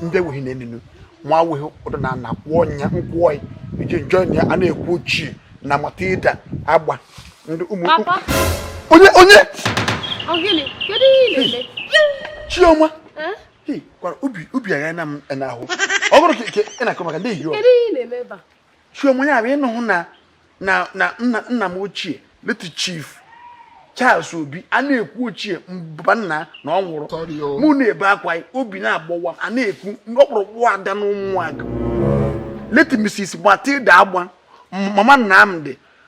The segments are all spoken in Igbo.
ndị enweghị na eninu nwa awụghị ụdọ na ana kwụọ nya nkwụọ iji njọ nya a na-ekwu ochie na matilda agba ndị ụmụ onye onye chioma gwara ubi ubi agha na m n'ahụ ọ bụrụ ka ị na-akọ maka ndị ehi chioma ya bụ ịnụhụ na na na nna nna m ochie late chief charles obi a na-ekwu ochie mba nna na ọ nwụrụ mụ na-ebe akwa obi na-agbawa a na-ekwu ọkpụrụkpụ ada na ụmụaka late mrs matilda agba mama nnamdi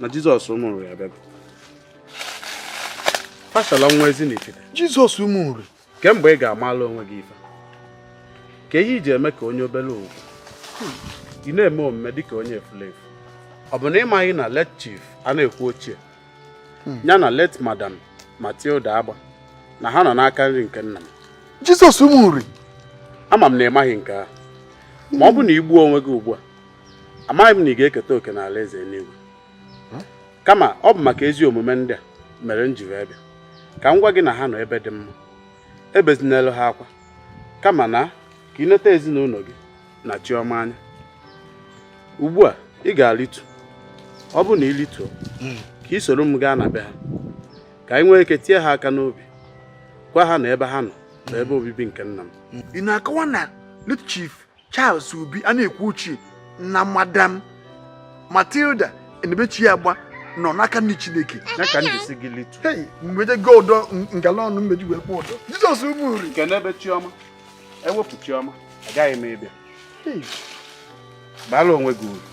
na jizọs ụmụ nri abịago fashala nwa ezinifite jizọs ụmụ nri kemgbe ị ga-amala onwe gị ife kee ihe i ji eme ka onye obere ugwu ị na-eme omume dịka onye efulefu ọ bụ na ị maghị na late chief a na-ekwu ochie hmm. ya na late madam matilda agba na ha nọ n'aka nri nke nna m jizọs ụmụ nri ama m na ị maghị nke ahụ ma ọ bụ na i gbuo onwe gị ugbu a amaghị m na ị ga-eketa oke n'ala eze enuigwe kama ọ bụ maka ezi omume ndị a mere m ji wee bịa ka m gwa gị na ha nọ ebe dị mma ebezinelu ha akwa kama na ka ị neta ezinụnọ gị na chiọma anya ugbu a ị ga-alịtu ọ bụ na ị lịtuo hmm. ka i soro m gaa na be ha ka anyị nwee ike tie ha aka n'obi gwa ha na ebe ha nọ bụ ebe obibi nke nna m ị na-akọwa na late chief Charles Obi a na-ekwu ochie na madam Matilda Enebechi Agba nọ n'aka nri Chineke ya ka m ji sị gị lịtu hei mgbede gị ụdọ ngala ọnụ m ji wee kwụọ ụdọ Jizọs ụmụ nri nke n'ebe Chiọma ewepụ Chiọma agaghị m ịbịa bara onwe gị uru